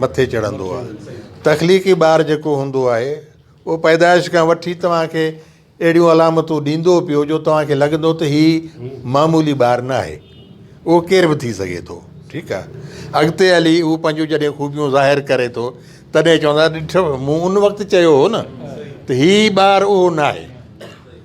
مٿي چڙهندو آهي. تخليقي ٻار جيڪو هوندو آهي اهو پيدائش کان وٺي توهان کي اهڙيون علامتون ڏيندو پيو جو توهان کي لڳندو ته هي معمولي ٻار نه آهي اهو ڪير به ٿي سگهي ٿو ٺيڪ آهي اڳتي هلي اهو پنهنجون جڏهن خوبيون ظاهر ڪري ٿو تڏهن چوندا ڏٺو مون ان وقت چيو هو نه ته هي ٻار اهو نه آهي.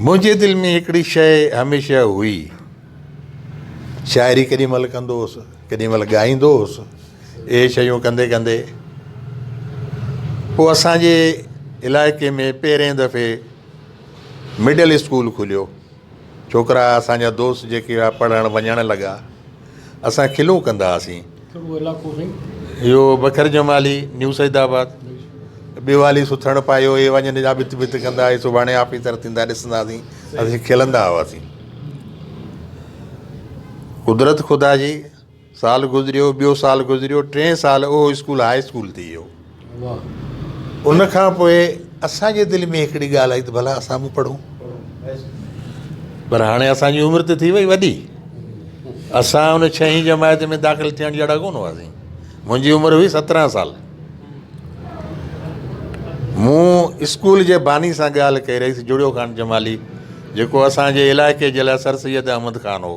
منهنجي دل ۾ هڪڙي شيء هميشه هئي. شاعري ڪيڏي مهل ڪندو هوس، ڪيڏي مهل ڳائيندو هوس. اهي شيون ڪندي ڪندي پوء اسان جي علائقي ۾ پهرئين دفعي مڊل اسڪول کليو. ڇوڪرا اسان جا دوست جيڪي هئا پڙهڻ وڃڻ لڳا. اسان کلون ڪندا هئاسين. اهو بکر جمالي، نيو سيد آباد، ٻيو علي سٿڻ پايو، اهي وڃن جا ڀت ڀت ڪندا، اهي سڀاڻي آفيسر ٿيندا ڏسنداسين. اسين کلندا هئاسين. قدرت خدا جي. سال گذريو ٻيو سال گذريو ٽين سال اهو اسڪول هاء اسڪول ٿي ويو ان کان پوء اسان جي دل ۾ هڪڙي ڳالهه آئي ته ڀلا اسان به پڙهون پر هاڻي اسان جي عمر ته ٿي وئي وڏي اسان ان ڇهين جماعت ۾ داخل ٿيڻ جهڙا ڪون هئاسين منهنجي عمر هئي سترهن سال مون اسڪول جي باني سان ڳالهه ڪئي رئيس جڙيو خان جمالي جيڪو اسان جي علائقي جي لاء سر سيد احمد خان هو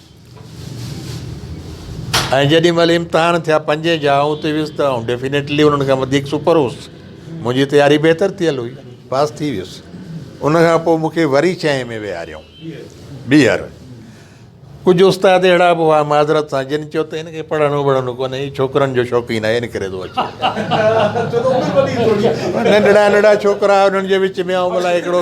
۽ جيڏي مهل امتحان ٿيا پنجين جا آئون اتي ويس ته آئون ڊيفينيٽلي انهن کان وڌيڪ سپر هوس منهنجي تياري بهتر ٿيل هئي پاس ٿي ويس ان کان پوء مون کي وري ڇهين ۾ ويهاريائون ٻيهر ڪجهه استاد اهڙا به هئا معذرت سان جن چيو ته هن کي پڙهڻو وڙهڻو ڪونهي هي ڇوڪرن جو شوقين آهي ان ڪري ٿو اچي ننڍڙا ننڍڙا ڇوڪرا انهن جي وچ ۾ آئون الائي هڪڙو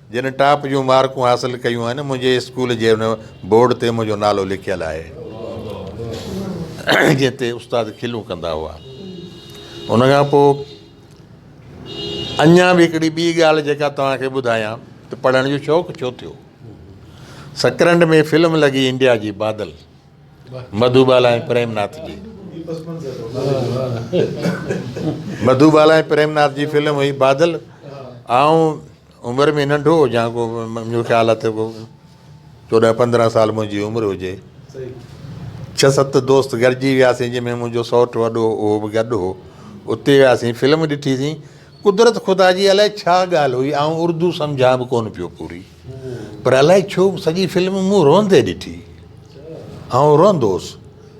جن ٽاپ جون مارڪون حاصل ڪيون آهن منهنجي اسڪول جي ان بورڊ تي منهنجو نالو لکيل آهي جنهن تي استاد کلون ڪندا هئا ان کان پوء اڃا به هڪڙي ٻي ڳالهه جيڪا توهان کي ٻڌايان ته پڙهڻ جو شوق ڇو ٿيو سڪرنڊ ۾ فلم لڳي انڊيا جي بادل مڌو بالا ۽ پريم ناٿ جي مڌو بالا ۽ پريم ناٿ جي فلم هئي بادل آئون عمر ۾ ننڍو هجان ڪو منهنجو خيال آهي ته ڪو چوڏهن پندرهن سال منهنجي عمر هجي ڇهه ست دوست گڏجي وياسين جنهن ۾ منهنجو سئوٽ وڏو هو اهو به گڏ هو اتي وياسين فلم ڏٺيسين قدرت خدا جي الائي ڇا ڳالهه هئي آئون اردو سمجهان به ڪونه پيو پوري پر الائي ڇو سڄي فلم مون روئندي ڏٺي آئون روئندو هوس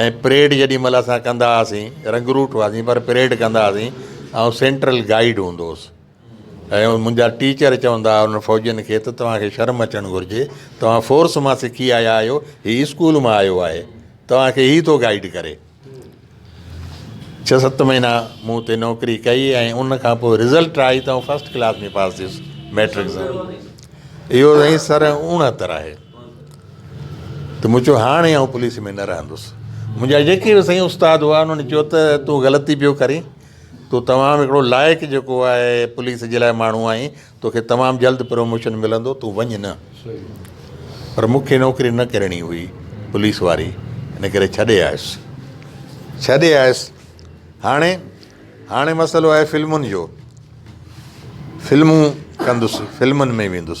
۽ پريڊ جيڏي مھل اسان ڪندا ھئاسين رنگروٽ ھئاسين پر پريڊ ڪندا ھئاسين آئون سينٽرل گائيڊ ھوندو ھوس ۽ منھنجا ٽيچر چوندا ھئا انھن فوجين کي ته توھان کي شرم اچڻ گھرجي توھان فورس مان سکي آيا آھيو ھي اسڪول مان آيو آھي توھان کي ھي ٿو گائيڊ ڪري ڇھه ست مھينا مون اتي نوڪري ڪئي ۽ ان کان پوء رزلٽ آئي ته آئون فسٽ ڪلاس ۾ پاس ٿيس ميٽرڪ سان اھو سائين سر اڻھتر آھي ته مون چيو، هاڻي آئون پوليس ۾ نه رهندس. منهنجا جيڪي به سائين استاد هئا، انهن چيو ته تون غلطي پيو ڪرين. تون تمام هڪڙو لائق جيڪو آهي پوليس جي لاء ماڻهو آهين. توکي تمام جلد پروموشن ملندو، تون وڃ نه. پر مون کي نوڪري نه ڪرڻي هئي پوليس واري، ان ڪري ڇڏي آيس. ڇڏي آيس. هاڻي، هاڻي مسئلو آهي فلمن جو. فلمون ڪندس، فلمن ۾ ويندس.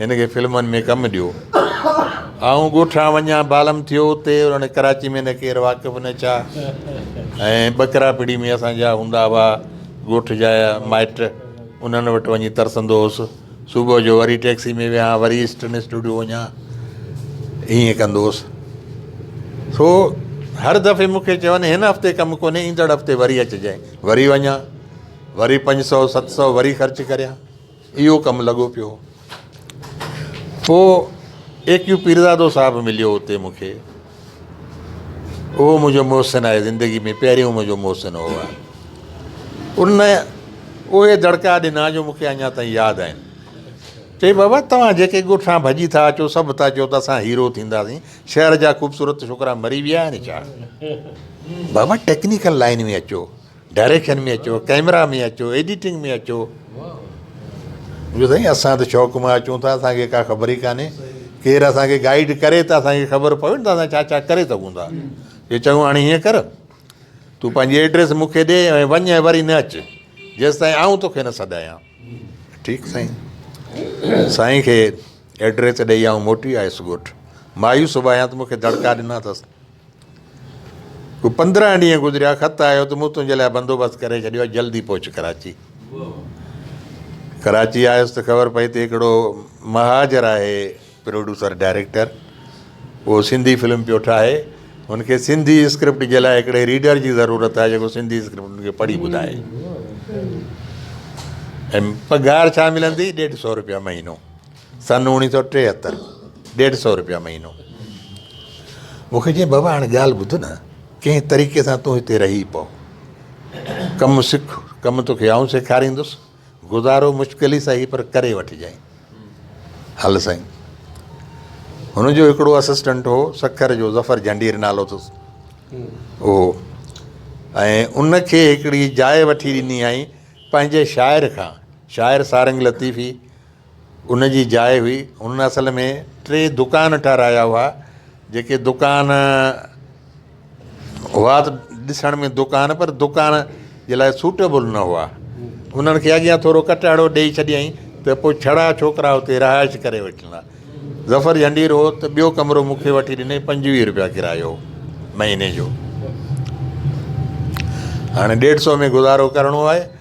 هن کي فلمن ۾ ڪم ڏيو. آئون ڳوٺان وڃان بالم ٿيو اتي هاڻي ڪراچي ۾ نه ڪير واقف نه ڇا ۽ ٻڪرا پڙي ۾ اسان جا هوندا هئا ڳوٺ جا مائٽ انهن وٽ وڃي ترسندو هوس صبح جو وري ٽيڪسي ۾ ويهان وري ايسٽرن اسٽوڊيو وڃان ائين ڪندو هوس سو هر دفعي مونکي چون هن هفتي ڪم ڪونهي ايندڙ هفتي وري اچجانء وري وڃان وري پنج سؤ ست سؤ وري خرچ ڪريان اهو ڪم لڳو پيو. پوء اي ڪيو پيرزادو صاحب مليو اتي مون کي. اهو منهنجو محسن آهي زندگي ۾ پهريون منهنجو محسن هو آ. ان اهي دڙڪا ڏنا جو مون کي اڃا تائين ياد آهن. چئي بابا توهان جيڪي ڳوٺان ڀڄي ٿا اچو سڀ ٿا چئو ته اسان هيرو ٿينداسين. شهر جا خوبصورت ڇوڪرا مري ويا آهن ڇا؟ بابا ٽيڪنيڪل لائين ۾ اچو. ڊائريڪشن ۾ اچو ڪئميرا ۾ اچو ايڊيٽنگ ۾ اچو جو سائين اسان ته شوق مان اچون ٿا اسانکي ڪا خبر ئي ڪاني ڪير اسانکي گائيڊ ڪري ته اسانکي خبر پوي نه ته اسان ڇا ڇا ڪري سگهون ٿا جو چون هاڻي هيئن ڪر تو پنهنجي ايڊريس مونکي ڏي ۽ وڃ ۽ وري نه اچ جيستائين آئون توکي نه سڏايان ٺيڪ سائين سائين کي ايڊريس ڏئي آئون موٽي آيس ڳوٺ مايوس به آهيان ته مونکي دڙڪا ڏنا اٿس ڪو پندرهن ڏينهن گذريا، خط آيو ته مون تنهنجي لاء بندوبست ڪري ڇڏيو آهي، جلدي پهچ ڪراچي. ڪراچي آيس ته خبر پئي ته هڪڙو مهاجر آهي پروڊيوسر ڊائريڪٽر، اهو سنڌي فلم پيو ٺاهي، هن کي سنڌي اسڪرپٽ جي لاء هڪڙي ريڊر جي ضرورت آهي جيڪو سنڌي اسڪرپٽ هن کي پڙهي ٻڌائي ۽ پگهار ڇا ملندي، ڏيڍ سؤ روپيا مهينو. سن اوڻيهه سؤ ٽيهتر ڏيڍ سؤ روپيا مهينو مون کي چيائين بابا هاڻي ڳالهه ٻڌ نه ڪنهن طريقي سان تون هتي رهي پو ڪم سک ڪم توکي آئون سيکاريندس گذارو مشڪل ئي سهي پر ڪري وٺجانء هل سائين هن جو هڪڙو اسسٽنٽ هو سکر جو ظفر جهنڊير نالو اٿس اهو ۽ ان کي هڪڙي جاء وٺي ڏني هئائين پنهنجي شاعر کان شاعر سارنگ لطيفي ان جي جاء هئي. هنن اصل ۾ ٽي دڪان ٺهرايا هئا، جيڪي دڪان هئا ته ڏسڻ ۾ دڪان پر دڪان جي لاء سوٽيبل نه هئا. انهن کي اڳيان ٿورو ڪٽهڙو ڏيئي ڇڏيائين ته پوء ڇڙا ڇوڪرا اتي رهائش ڪري وٺندا. ظفر جهنڊير هو ته ٻيو ڪمرو مون کي وٺي ڏنائين، پنجويهه روپيا ڪرايو هو مهيني جو. هاڻي ڏيڍ سئو ۾ گذارو ڪرڻو آهي.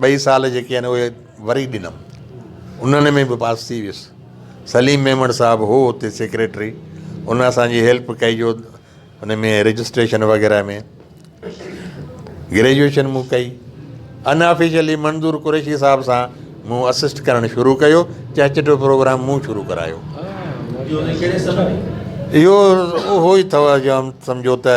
ٻئي سال جيڪي آهن اهي وري ڏنم انهن ۾ به پاس ٿي ويس سليم ميمڻ صاحب هو اتي سيڪريٽري ان اسانجي هيلپ ڪئي جو ان ۾ رجسٽريشن وغيره ۾ گريجوئيشن مون ڪئي ان آفيشلي منظور قريشي صاحب سان مون اسسٽ ڪرڻ شروع ڪيو چهچٽ جو پروگرام مون شروع ڪرايو اهو اهو ئي اٿو جو سمجهو ته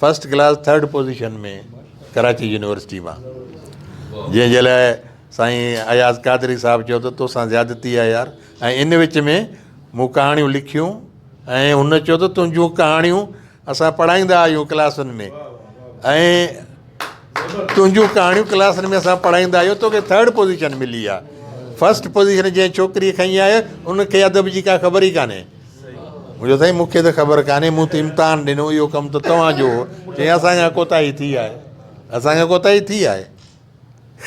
first class third position ۾ Karachi university مان جنهن جي لاء سائين اياز قادري صاحب چيو ته توسان زيادتي آهي يار ۽ ان وچ ۾ مون ڪهاڻيون لکيون ۽ هن چيو ته تنهنجون ڪهاڻيون اسان پڙهائيندا آهيون ڪلاسن ۾ ۽ تنهنجون ڪهاڻيون ڪلاسن ۾ اسان پڙهائيندا آهيون توکي ٿرڊ پوزيشن ملي آهي فرسٽ پوزيشن جنهن ڇوڪري کڻي آهي ان کي ادب جي ڪا خبر ئي ڪانهي مون چيو سائين مون کي ته خبر ڪانهي مون ته امتحان ڏنو اهو ڪم ته توهان جو هو چيائين اسان کان ڪوتاهي ٿي آهي اسان کان ڪوتاهي ٿي آهي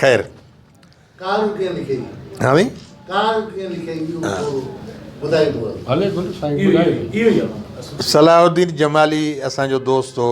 خير صلاح الدين جمالي اسان جو دوست هو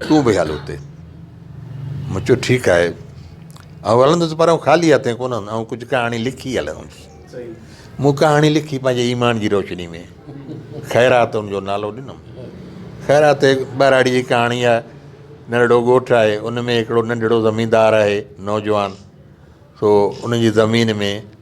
تون به هل اتي. مون چيو ٺيڪ آهي. آئون هلندس پر آئون خالي هٿين ڪونه هلندس. آئون ڪجهه ڪهاڻي لکي هلندس. مون ڪهاڻي لکي پنهنجي ايمان جي روشني ۾ خيرات ان جو نالو ڏنم. خيرات هڪ ٻهراڙي جي ڪهاڻي آهي. ننڍڙو ڳوٺ آهي ان ۾ هڪڙو ننڍڙو زميندار آهي نوجوان سو ان جي زمين ۾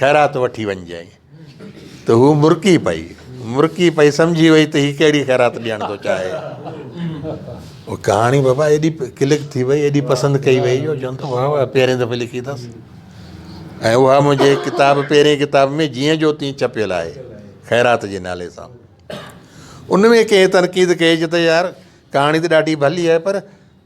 خيرات وٺي وڃجانء. ته هوء مرڪي پئي. مرڪي پئي سمجهي وئي ته هي ڪهڙي خيرات ڏيڻ ٿو چاهي. هوء ڪهاڻي بابا ايڏي ڪلڪ ٿي وئي ايڏي پسند ڪئي وئي جو چون ٿا واه واه پهرين دفعي لکي اٿس. ۽ اها منهنجي ڪتاب پهرين ڪتاب ۾ جيئن جو تيئن ڇپيل آهي خيرات جي نالي سان. ان ۾ ڪنهن تنقيد ڪئي چي ته يار ڪهاڻي ته ڏاڍي ڀلي آهي پر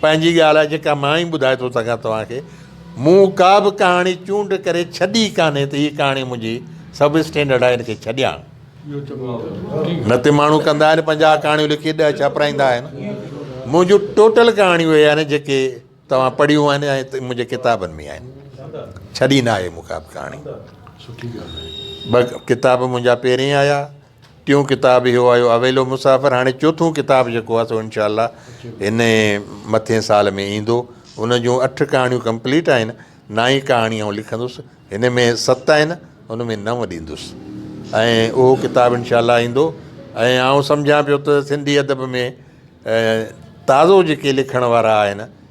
پنهنجي ڳالهه آهي جيڪا مان ئي ٻڌائي ٿو سگهان توهان کي. مون ڪا به ڪهاڻي چونڊ ڪري ڇڏي ڪانهي ته هيء ڪهاڻي منهنجي سب اسٽينڊرڊ آهي هن کي ڇڏيان. نه ته ماڻهو ڪندا آهن پنجاهه ڪهاڻيون لکي ڏهه ڇاپرائيندا آهن. منهنجون ٽوٽل ڪهاڻيون اهي آهن جيڪي توهان پڙهيون آهن ۽ منهنجي ڪتابن ۾ آهن. ڇڏي ناهي مون ڪا به ڪهاڻي. ٻه ڪتاب منهنجا پهرين آيا. ٽيون ڪتاب اهو آيو اويلو مسافر هاڻي چوٿون ڪتاب جيڪو آ سو انشاء الله هن مٿين سال ۾ ايندو ان جون اٺ ڪهاڻيون ڪمپليٽ آهن نائين ڪهاڻي آئون لکندس هن ۾ ست آهن ان ۾ نو ڏيندس ۽ اهو ڪتاب انشاء الله ايندو ۽ آئون سمجهان پيو ته سنڌي ادب ۾ تازو جيڪي لکڻ وارا آهن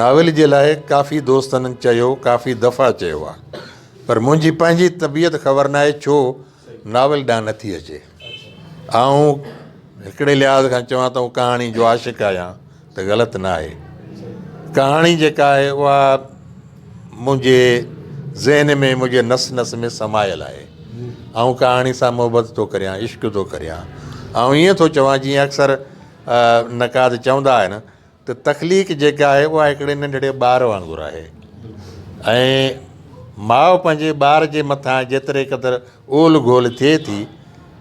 ناول جي لاء ڪافي دوستن چيو ڪافي دفعا چيو آ پر منهنجي پنهنجي طبيعت خبر ناهي ڇو ناول ڏانهن نٿي اچي آئون هڪڙي لحاظ کان چوان ته ڪهاڻي جو عاشق آهيان ته غلط ناهي ڪهاڻي جيڪا آهي اها منهنجي ذهن ۾ منهنجي نس نس ۾ سمايل آهي آئون ڪهاڻي سان محبت ٿو ڪريان عشق ٿو ڪريان آئون ائين ٿو چوان جيئن اڪثر نقاد چوندا آهن ته تخليق جيڪا آهي اها هڪڙي ننڍڙي ٻار وانگر آهي ۽ ماء پنهنجي ٻار جي مٿان جيتري قدر اولهه گولهه ٿئي ٿي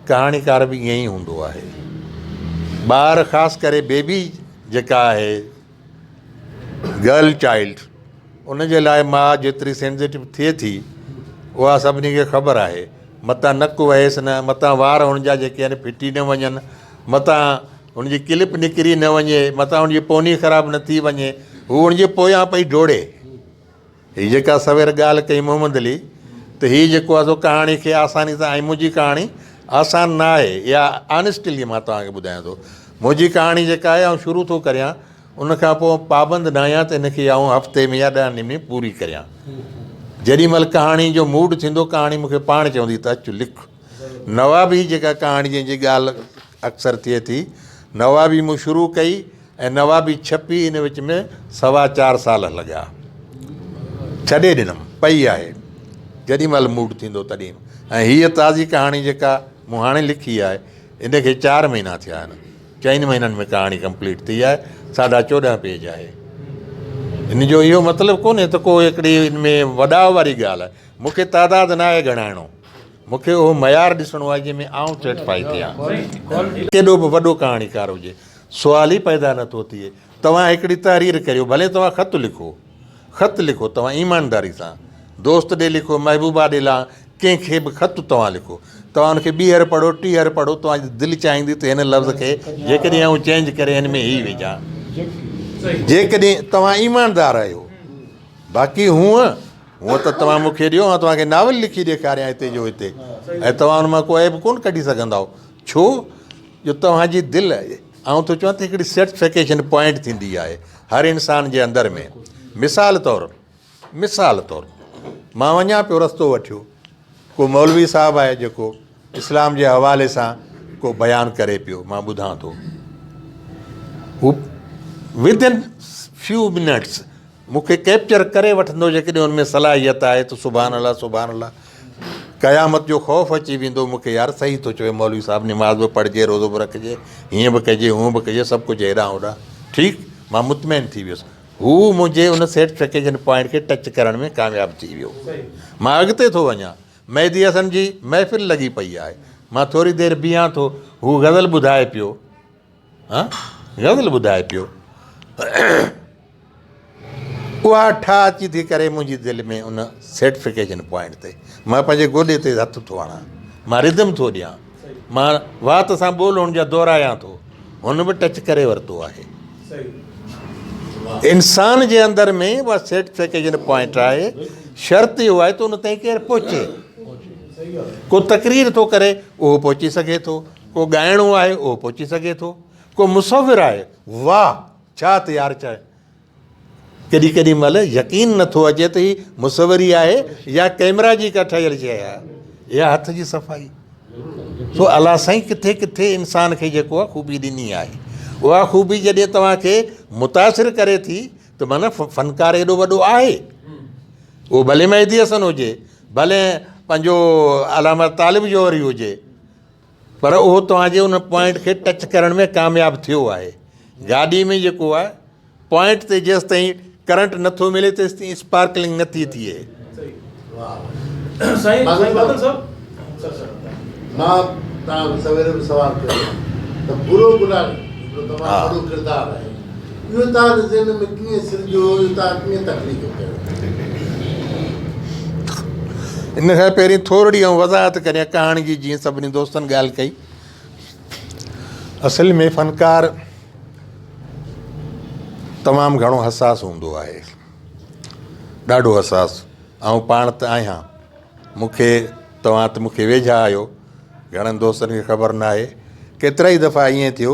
ڪهاڻيڪار به ائين ئي هوندو آهي ٻار خاص ڪري بيبي جيڪا آهي گرل چائلڊ ان جي لاء ماء جيتري سينزيٽو ٿئي ٿي اها سڀني کي خبر آهي متان نڪ وهيس نه متان وار هن جا جيڪي آهن ڦٽي نه وڃن متان هن جي ڪلپ نڪري نه وڃي، متان هن جي پوني خراب نه ٿي وڃي، هو هن جي پويان پئي ڊوڙي. هي جيڪا سوير ڳالهه ڪئي محمد علي ته هي جيڪو آهي سو ڪهاڻي کي آساني سان ۽ منهنجي ڪهاڻي آسان نه آهي اها آنيسٽلي مان توهان کي ٻڌايان ٿو. منهنجي ڪهاڻي جيڪا آهي آئون شروع ٿو ڪريان ان کان پوء پابند نه آهيان ته هن کي آئون هفتي ۾ يا ڏهن ڏينهن ۾ پوري ڪريان. جيڏي مهل ڪهاڻي جو موڊ ٿيندو ڪهاڻي مون کي پاڻ چوندي ته اچ لک. نواب هي جيڪا ڪهاڻي جنهن جي ڳالهه اڪثر ٿئي ٿي. نوابي مون شروع ڪئي ۽ نوابي ڇپي ان وچ ۾ سوا چار سال هل ڳيا. ڇڏي ڏنم. پئي آهي. جيڏي مهل موڊ ٿيندو تڏهن. ۽ هيء تازي ڪهاڻي جيڪا مون هاڻي لکي آهي ان کي چار مهينا ٿيا آهن. چئن مهينن ۾ ڪهاڻي ڪمپليٽ ٿي آهي. ساڍا چوڏهن پيج آهي. ان جو اهو مطلب ڪونهي ته ڪو هڪڙي ان ۾ وڏاء واري ڳالهه آهي. مون کي تعداد ناهي ڳڻائڻو. مون کي اهو معيار ڏسڻو آهي جنهن ۾ آئون سيٽفائي ٿيان. ڪيڏو به وڏو ڪهاڻيڪار هجي سوال ئي پيدا نه ٿو ٿئي. توهان هڪڙي تحرير ڪريو ڀلي توهان خط لکو خط لکو توهان ايمانداري سان دوست ڏي لکو محبوبا ڏي لان ڪنهن کي به خط توهان لکو توهان ان کي ٻيهر پڙهو ٽيهر پڙهو توهان جي دل چاهيندي ته هن لفظ کي جيڪڏهن آئون چينج ڪري هن ۾ هي وجهان جيڪڏهن توهان ايماندار آهيو باقي هونء هونء ته توهان مون کي ڏيو آئون توهان کي ناول لکي ڏيکاريان هتي جو هتي ۽ توهان ان مان ڪو عيب ڪونه ڪڍي سگهندائو ڇو جو توهان جي دل آئون ٿو چوان ته هڪڙي سيٽسفڪيشن پوائنٽ ٿيندي آهي هر انسان جي اندر ۾ مثال طور مثال طور مان وڃان پيو رستو وٺيو ڪو مولوي صاحب آهي جيڪو اسلام جي حوالي سان ڪو بيان ڪري پيو مان ٻڌان ٿو هو ودن فيو منٽس مون کي ڪيپچر ڪري وٺندو جيڪڏهن ان ۾ صلاحيت آهي ته سبحان الله سبحان الله قيامت جو خوف اچي ويندو مون کي يار صحيح ٿو چوي مولوي صاحب نماز به پڙهجي روزو به رکجي هيئن به ڪجي هونء به ڪجي سڀ ڪجهه هيڏانهن هوڏانهن ٺيڪ مان مطمئن ٿي ويس هو منهنجي ان سيٽفڪيشن پوائنٽ کي ٽچ ڪرڻ ۾ ڪامياب ٿي ويو مان اڳتي ٿو وڃان مهدي حسن جي محفل لڳي پئي آهي. مان ٿوري دير بيهان ٿو. هو غزل ٻڌائي پيو. هان غزل ٻڌائي پيو. اها ٺاهه اچي ٿي ڪري منهنجي دل ۾ ان سيٽفڪيشن پوائنٽ تي. مان پنهنجي گولي تي هٿ ٿو هڻان. مان رڌم ٿو ڏيان. مان وات سان ٻول هن جا دهرايان ٿو هن به ٽچ ڪري ورتو آهي انسان جي اندر ۾ اها سيٽسفيڪيشن پوائنٽ آهي شرط اهو آهي ته ان تائين ڪير پهچي ڪو تقرير ٿو ڪري اهو پهچي سگھي ٿو ڪو ڳائڻو آهي اهو پهچي سگھي ٿو ڪو مصور آهي واهه ڇا تيار چاهي ڪڏهن ڪڏهن مهل يقين نه ٿو اچي ته هي مصوري آهي يا ڪئميرا جي ڪا ٺهيل شيء آهي. اها هٿ جي صفائي. سو الله سائين ڪٿي ڪٿي انسان کي جيڪو آهي خوبي ڏني آهي. اها خوبي جڏهن توهان کي متاثر ڪري ٿي ته معنيٰ فنڪار ايڏو وڏو آهي. اهو ڀلي مهدي حسن هجي، ڀلي پنهنجو علامه طالب جوهري هجي. پر اهو توهان جي ان پوائنٽ کي ٽچ ڪرڻ ۾ ڪامياب ٿيو آهي. گاڏي ۾ جيڪو آهي پوائنٽ تي جيستائين ڪرنٽ نه ٿو ملي تيستائين اسپارڪلنگ نه ٿي ٿئي. اهو تاج ذهن ۾ ڪيئن سرجيو، اهو تاج ڪيئن تخليق ڪيو؟ ان کان پهرين ٿورڙي آئون وضاحت ڪريان ڪهاڻي جي جيئن سڀني دوستن ڳالهه ڪئي اصل ۾ فنڪار تمام گهڻو حساس هوندو آهي ڏاڍو حساس آئون پاڻ ته آهيان مون کي توهان ته مون کي ويجها آهيو گهڻن دوستن کي خبر ناهي ڪيترائي دفعا ائين ٿيو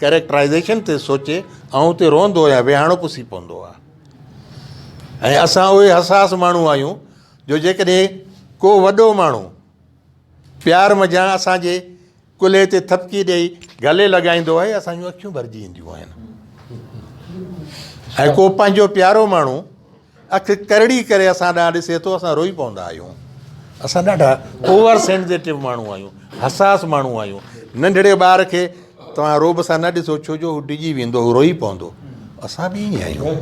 ڪريڪٽرائيزيشن تي سوچي آئون اتي روئندو يا ويهاڻو پسي پوندو آ ۽ اسان اهي حساس ماڻهو آهيون جو جيڪڏهن ڪو وڏو ماڻهو پيار منجهان اسان جي ڪلهي تي ٿپڪي ڏئي گلي لڳائيندو آهي اسان جون اکيون ڀرجي اينديون آهن ۽ ڪو پنهنجو پيارو ماڻهو اک ڪرڙي ڪري اسان ڏانهن ڏسي ٿو، اسان روئي پوندا آهيون. اسان ڏاڍا اوور سينزيٽو ماڻهو آهيون، حساس ماڻهو آهيون. ننڍڙي ٻار کي توهان رعب سان نه ڏسو ڇو جو هو ڊڄي ويندو، هو روئي پوندو. اسان به ائين ئي آهيون.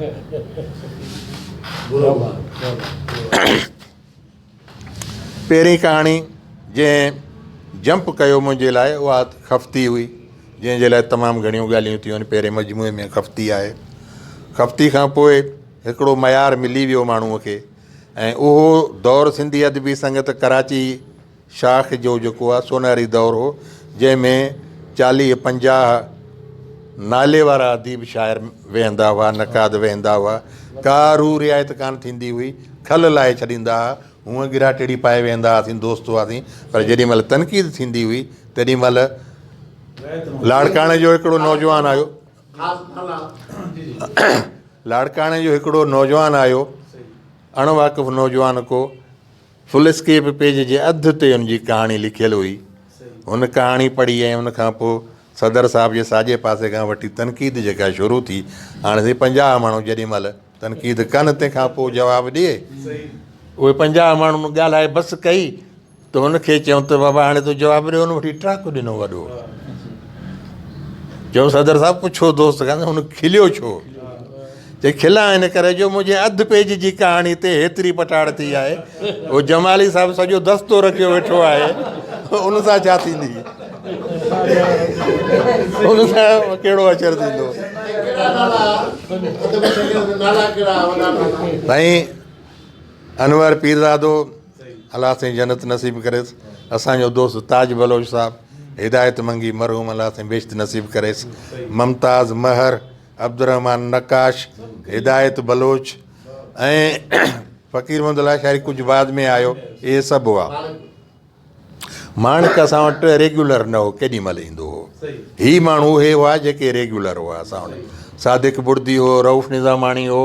پهرين ڪهاڻي جنهن جمپ ڪيو منهنجي لاء اها خفتي هئي، جنهن جي لاء تمام گهڻيون ڳالهيون ٿيون، پهرين مجموعي ۾ خفتي آهي. خفتي کان پوء هڪڙو معيار ملي ويو ماڻهوء کي ۽ اهو دور سنڌي ادبي سنگت ڪراچي شاخ جو جيڪو آهي سونهري دور هو، جنهن ۾ چاليهه پنجاهه نالي وارا اديب شاعر ويهندا هئا، نقاد ويهندا هئا، ڪا روح رعايت ڪانه ٿيندي هئي، کل لاهي ڇڏيندا ها، هونء گرا ٽيڙي پائي ويهندا هئاسين، دوست هئاسين، پر جيڏي مهل تنقيد ٿيندي هئي، تيڏي مهل لاڙڪاڻي جو هڪڙو نوجوان آيو، لاڙڪاڻي جو هڪڙو نوجوان آيو، اڻ واقف نوجوان ڪو، فل اسڪيپ پيج جي اڌ تي ان جي ڪهاڻي لکيل هئي. هن ڪهاڻي پڙهي ۽ ان کان پوء صدر صاحب جي ساڄي پاسي کان وٺي تنقيد جيڪا شروع ٿي، هاڻي سائين پنجاهه ماڻهو جيڏي مهل تنقيد ڪن تنهن کان پوء جواب ڏي، اهي پنجاهه ماڻهن ڳالهائي بس ڪئي ته هن کي چيم ته بابا هاڻي تون جواب ڏي، هن وٺي ٽرڪ ڏنو وڏو. چيم صدر صاحب پڇو دوست کان ته هن کليو ڇو؟ چي کلا ان ڪري جو منهنجي اڌ پيج جي ڪهاڻي تي هيتري پٽاڙ ٿي آهي. اهو جمالي صاحب سڄو دستو رکيو ويٺو آهي. ان سان ڇا ٿيندي؟ ان سان ڪهڙو اچر ٿيندو؟ سائين انور پيرزادو الله سائين جنت نصيب ڪريس اسان جو دوست تاج بلوچ صاحب هدايت منگي مرحوم الله سائين بهشت نصيب ڪريس ممتاز مهر عبدالرحمان نقاش، هدايت بلوچ ۽ فقير محمد لاشاري ڪجهه بعد ۾ آيو اهي سڀ هئا. ماڻڪ اسان وٽ ريگيولر نه هو ڪيڏي مهل ايندو هو. هي ماڻهو اهي هئا جيڪي ريگيولر هئا اسان وٽ صادق بڙدي هو، رئوف نظاماڻي هو.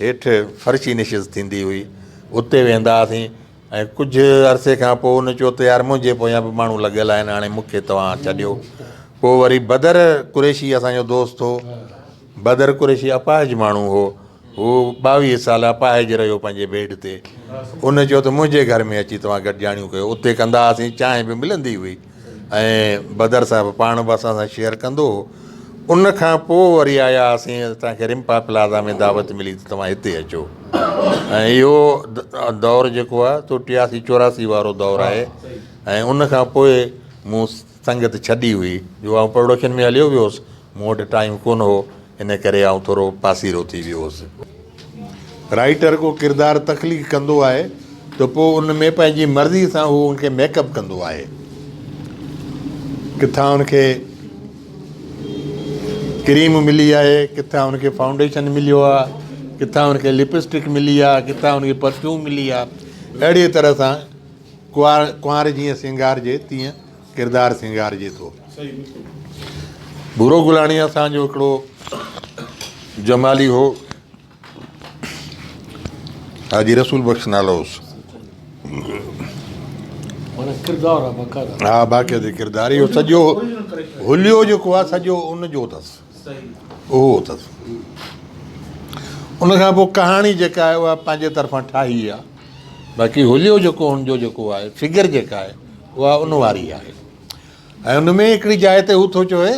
هيٺ فرشي نشست ٿيندي هئي، اتي ويهندا هئاسين ۽ ڪجهه عرصي کان پوء هن چيو ته يار منهنجي پويان به ماڻهو لڳل آهن هاڻي مون کي توهان ڇڏيو. پوء وري بدر قريشي اسان جو دوست هو. بدر قريشي اپاهج ماڻهو هو. هو ٻاويهه سال اپاهج رهيو پنهنجي بيڊ تي. هن چيو ته منهنجي گهر ۾ اچي توهان گڏجاڻيون ڪيو. اتي ڪندا هئاسين، چانهه به ملندي هئي. ۽ بدر صاحب پاڻ به اسان سان شيئر ڪندو ان کان پوء وري آيا هئاسين اسانکي رمپا پلازا ۾ دعوت ملي ته توهان هتي اچو ۽ اهو دور جيڪو آهي سو ٽياسي چوراسي وارو دور آهي ۽ ان کان پوء مون سنگت ڇڏي هئي جو آئون پروڊڪشن ۾ هليو ويو هوس مون وٽ ٽائيم ڪونه هو، ان ڪري آئون ٿورو پاسيرو ٿي ويو هوس. رائيٽر ڪو ڪردار تخليق ڪندو آهي ته پوء ان ۾ پنهنجي مرضي سان هو ان کي ميڪ اپ ڪندو آهي. ڪٿان ان کي ڪريم ملي آهي، ڪٿان ان کي فائونڊيشن مليو آ، ڪٿان ان کي لپسٽڪ ملي آ، ڪٿان ان کي پرفيوم ملي آ. اهڙيء طرح سان ڪنوار جيئن سينگارجي تيئن ڪردار سينگارجي ٿو. ڀورو گلاڻي اسان جو هڪڙو جمالي هو. حاجي رسول بخش نالو هوس. ها باقاعدي ڪردار اهو سڄو حليو جيڪو آهي سڄو ان جو اٿس. اهو اٿس. ان کان پوء ڪهاڻي جيڪا آهي اها پنهنجي طرفان ٺاهي آهي. باقي هوليو جيڪو هن جو جيڪو آهي فگر جيڪا آهي اها ان واري آهي. ۽ ان ۾ هڪڙي جاء تي هو ٿو چوي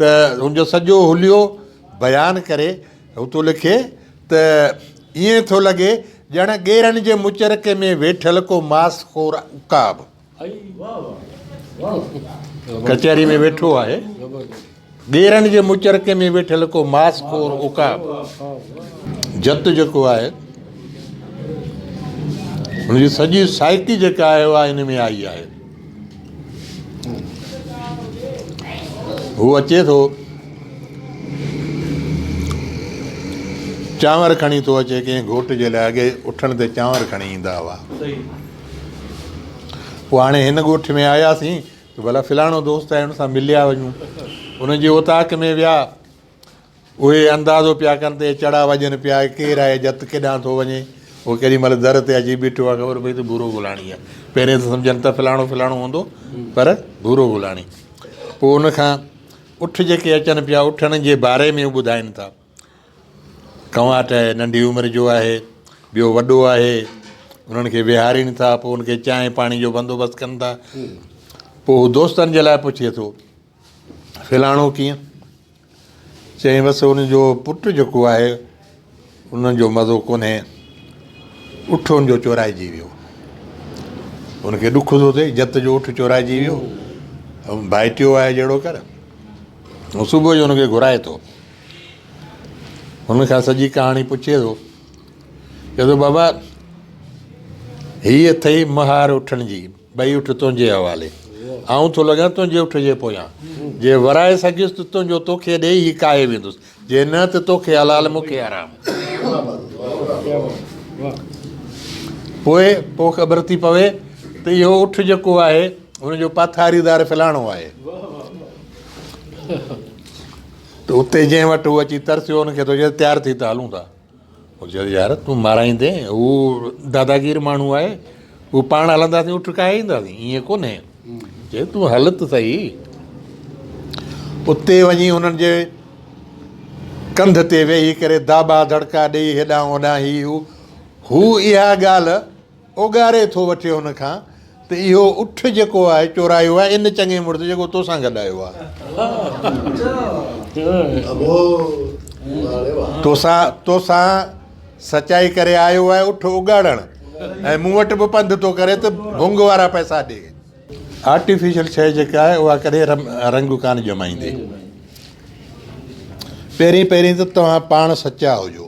ته هن جو سڄو هوليو بيان ڪري هو ٿو لکي ته ائين ٿو لڳي ڄڻ ڳيرن جي مچرڪي ۾ ويٺل ڪو ماس خور عقاب. ڪچهري ۾ ويٺو آهي ٻيرن جي مچرڪي ۾ ويٺل ڪو ماس خور عقاب جت جيڪو آهي ان جي سڄي سائيڪي جيڪا آهي اها ان ۾ آئي آهي هو اچي ٿو چانور کڻي ٿو اچي ڪنهن گهوٽ جي لاء اڳي اٺڻ تي چانور کڻي ايندا هئا پوء هاڻي هن ڳوٺ ۾ آياسين ته ڀلا فلاڻو دوست آهي ان سان مليا وڃون. ان جي اوطاق ۾ ويا. اهي اندازو پيا ڪن ته اهي چڙا وڄن پيا، ڪير آهي، جت ڪيڏانهن ٿو وڃي. هو ڪيڏي مهل در تي اچي بيٺو آهي، خبر پئي ته ڀورو گولاڻي آهي. پهرين ته سمجهن ته فلاڻو فلاڻو هوندو پر ڀورو گولاڻي. پوء ان کان اٺ جيڪي اچن پيا، اٺن جي باري ۾ هو ٻڌائين ٿا. توهان ته ننڍي عمر جو آهي، ٻيو وڏو آهي، انهن کي ويهارين ٿا، پوء ان کي چانهه پاڻي جو بندوبست ڪن ٿا. پوء هو دوستن جي لاء پڇي ٿو، فلاڻو ڪيئن؟ چيائين، بس ان جو پٽ جيڪو آهي، ان جو مزو ڪونهي، اٺ ان جو چورائجي ويو. ان کي ڏک ٿو ٿئي، جت جو اٺ چورائجي ويو، ڀائٽيو آهي جهڙو ڪر. هو صبح جو ان کي گهرائي ٿو. هن کان سڄي ڪهاڻي پڇي ٿو. چوي ٿو بابا هي اٿئي مهار اٺن جي ٻئي اٺ تنهنجي حوالي آئون ٿو لڳان تنهنجي اٺ جي پويان جي ورائي سگهيس ته تنهنجو توکي ڏئي هي ڪاهي ويندس جي نه ته توکي حلال مون کي حرام پوء پوء خبر ٿي پوي ته اهو اٺ جيڪو آهي هن جو پاٿاريدار فلاڻو آهي ته اتي جنهن وٽ هو اچي ترسيو ان کي ٿو چئي تيار ٿي ته هلون ٿا. هو چيو يار تون مارائيندين هو داداگير ماڻهو آهي هو پاڻ هلنداسين اٺ کائي اينداسين ائين ڪونهي چيو تون هل ته سهي اتي وڃي انهن جي ڪنڌ تي ويهي ڪري داٻا دڙڪا ڏيئي هيڏانهن هوڏانهن هي هو هو اها ڳالهه اوڳاري ٿو وٺي هن کان ته اهو اٺ جيڪو آهي چورايو آهي ان چڱي مڙس جيڪو تو سان گڏ آيو آهي. تو سان سچائي ڪري آيو آهي اٺ اوڳاڙڻ ۽ مون وٽ به پنڌ ٿو ڪري ته ڀونگ وارا پئسا ڏي. آرٽيفيشل شيء جيڪا آهي اها ڪڏهن رنگ ڪانه ڄمائيندي. پهرين پهرين ته توهان پاڻ سچا هجو.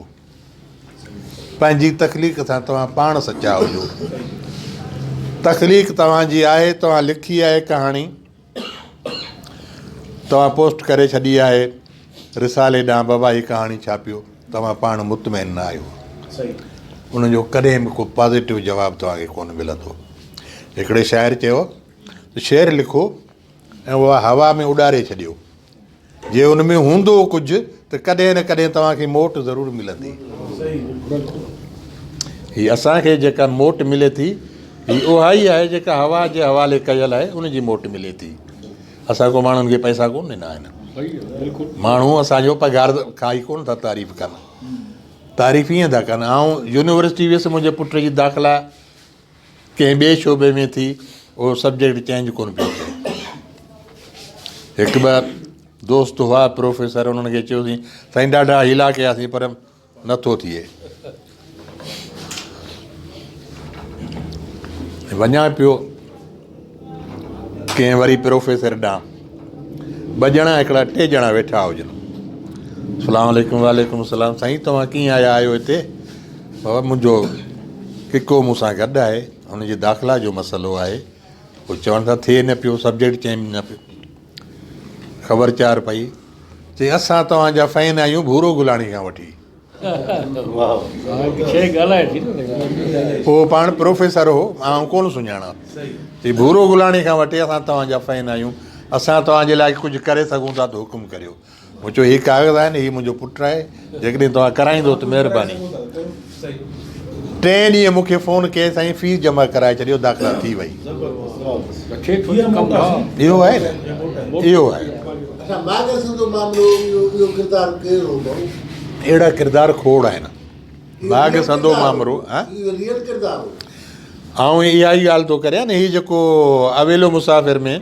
پنهنجي تخليق سان توهان پاڻ سچا هجو. تخليق توهان جي آهي، توهان لکي آهي ڪهاڻي، توهان پوسٽ ڪري ڇڏي آهي رسالي ڏانهن بابا هي ڪهاڻي ڇاپيو، توهان پاڻ مطمئن نه آهيو. ان جو ڪڏهن به ڪو پازيٽو جواب توهان کي ڪونه ملندو. هڪڙي شاعر چيو ته شعر لکو ۽ اها هوا ۾ اڏاري ڇڏيو. جي ان ۾ هوندو ڪجهه ته ڪڏهن نه ڪڏهن توهان کي موٽ ضرور ملندي. هي اسان کي جيڪا موٽ ملي ٿي هي اهائي آهي جيڪا هوا جي حوالي ڪيل آهي ان جي موٽ ملي ٿي. اسان ڪو ماڻهن کي پئسا ڪونه ڏنا آهن. ماڻهو اسان جو پگهار کائي ڪونه ٿا تعريف ڪن. تعريف ائين ٿا ڪن آئون يونيورسٽي ويس منهنجي پٽ جي داخلا ڪنهن ٻئي شعبي ۾ ٿي اهو سبجيڪٽ چينج ڪونه پيو ٿئي هڪ ٻه دوست هئا پروفيسر انهن کي چيوسين سائين ڏاڍا هيلا ڪياسين پر نٿو ٿئي وڃان پيو ڪنهن وري پروفيسر ڏانهن ٻه ڄڻا هڪڙا ٽي ڄڻا ويٺا هجن سلام عليڪم وعليڪم السلام سائين توهان ڪيئن آيا آهيو هتي بابا منهنجو ڪڪو مون سان گڏ آهي ان جي داخلا جو مسئلو آهي هو چوڻ ٿا ٿئي نه پيو سبجيڪٽ چينج نه پيو خبر چار پئي چي اسان توهان جا فين آهيون ڀورو گلاڻي کان وٺي هو پاڻ پروفيسر هو، آئون ڪونه سڃاڻان. چي، ڀورو گلاڻي کان وٺي اسان توهان جا فين آهيون، اسان توهان جي لاء ڪجهه ڪري سگهون ٿا ته حڪم ڪريو. مون چيو، هي ڪاغذ آهن، هي منهنجو پٽ آهي، جيڪڏهن توهان ڪرائيندو ته مهرباني. ٽئين ڏينهن مون کي فون ڪيس سائين فيس جمع ڪرائي ڇڏيو، داخلا ٿي وئي. اهو آهي نه، اهو آهي. اچا ماڳ سنڌو معاملو اهو ڪردار ڪير هو ڀائو. اهڙا ڪردار کوڙ آهن. ماڳ سنڌو معامرو اهو ريئل ڪردار هو. آئون اها ئي ڳالهه ٿو ڪريان نه هي جيڪو اويلو مسافر ۾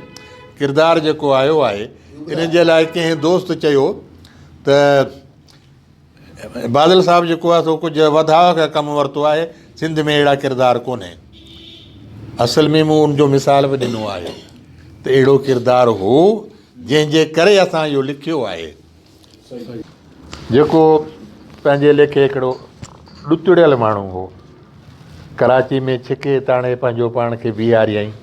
ڪردار جيڪو آيو آهي ان جي لاء ڪنهن دوست چيو ته بادل صاحب جيڪو آهي سو ڪجهه وڌاء کي ڪم ورتو آهي سنڌ ۾ اهڙا ڪردار ڪونهي اصل ۾ مون ان جو مثال به ڏنو آهي ته اهڙو ڪردار هو جنهن جي ڪري اسان اهو لکيو آهي جيڪو پنهنجي ليکي هڪڙو ڏتڙيل ماڻهو هو ڪراچي ۾ ڇڪي تاڻي پنهنجو پاڻ کي بيهاريائين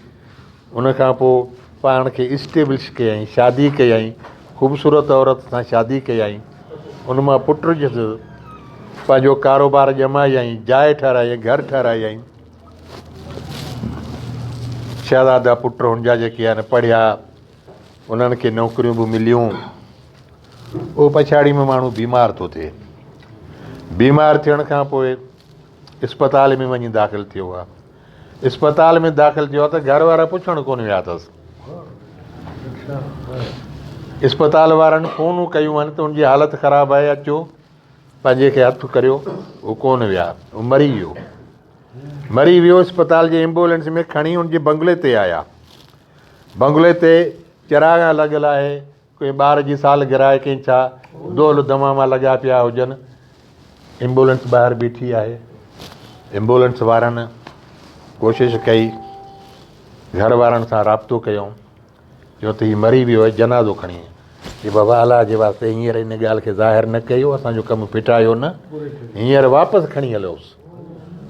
ان کان پوء پاڻ کي اسٽيبلش ڪيائين، شادي ڪيائين، خوبصورت عورت سان شادي ڪيائين، ان مان پٽ جس، پنهنجو ڪاروبار ڄمايائين، جاء ٺهرايائين، گهر ٺهرايائين، شهزادا پٽ هن جا جيڪي آهن پڙهيا، انهن کي نوڪريون به مليون، پوء پڇاڙي ۾ ماڻهو بيمار ٿو ٿئي، بيمار ٿيڻ کان پوء اسپتال ۾ وڃي داخل ٿيو آهي. اسپتال ۾ داخل ٿيو آهي ته گهر وارا پڇڻ ڪونه ويا اٿس. اسپتال وارن فونون ڪيون آهن ته ان جي حالت خراب آهي اچو پنهنجي کي هٿ ڪريو هو ڪونه ويا هو مري ويو مري ويو اسپتال جي ايمبولينس ۾ کڻي ان جي بنگلي تي آيا بنگلي تي چراغا لڳل آهي ڪنهن ٻار جي سالگره آهي ڪنهن ڇا، دول دماما لڳا پيا هجن. ايمبولينس ٻاهر بيٺي آهي. ايمبولينس وارن ڪوشش ڪئي، گهر وارن سان رابطو ڪيو، چيو ته هي مري ويو آهي جنازو کڻي چي بابا الله جي واسطي هينئر ان ڳالهه کي ظاهر نه ڪيو، اسان جو ڪم ڦٽايو نه، هينئر واپس کڻي هليوس،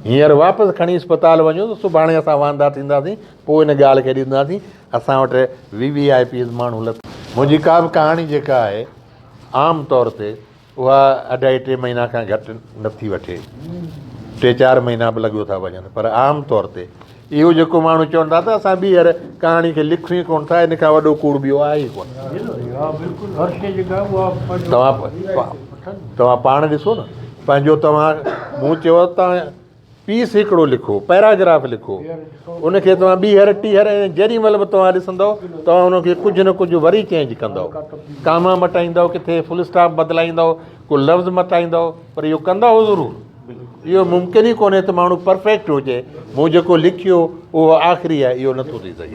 هينئر واپس کڻي اسپتال وڃو ته سڀاڻي اسان واندا ٿينداسين، پوء ان ڳالهه کي ڏسنداسين. اسان وٽ وي وي آء پيز ماڻهو لٿا. منهنجي ڪا به ڪهاڻي جيڪا آهي عام طور تي اها اڍائي ٽي مهينا کان گهٽ نه ٿي وٺي ٽي چار مهينا به لڳيو ٿا وڃن پر عام طور تي اهو جيڪو ماڻهو چون ٿا ته اسان ٻيهر ڪهاڻي کي لکيون ئي ڪونه ٿا ان کان وڏو ڪوڙ ٻيو آهي ئي ڪونه توهان توهان پاڻ ڏسو نه پنهنجو توهان مون چيو توهان پي سيڪڙو لکو، پيراگراف لکو، ان کي توهان ٻيهر ٽيهر ۽ جيڏي مهل به توهان ڏسندؤ توهان ان کي ڪجهه نه ڪجهه وري چينج ڪندؤ، ڪاما مٽائيندؤ، ڪٿي فل اسٽاپ بدلائيندؤ، ڪو لفظ مٽائيندؤ، پر اهو ڪندؤ ضرور. اهو ممڪن ئي ڪونهي ته ماڻهو پرفيڪٽ هجي، مون جيڪو لکيو اهو آخري آهي، اهو نٿو ٿي سگهي.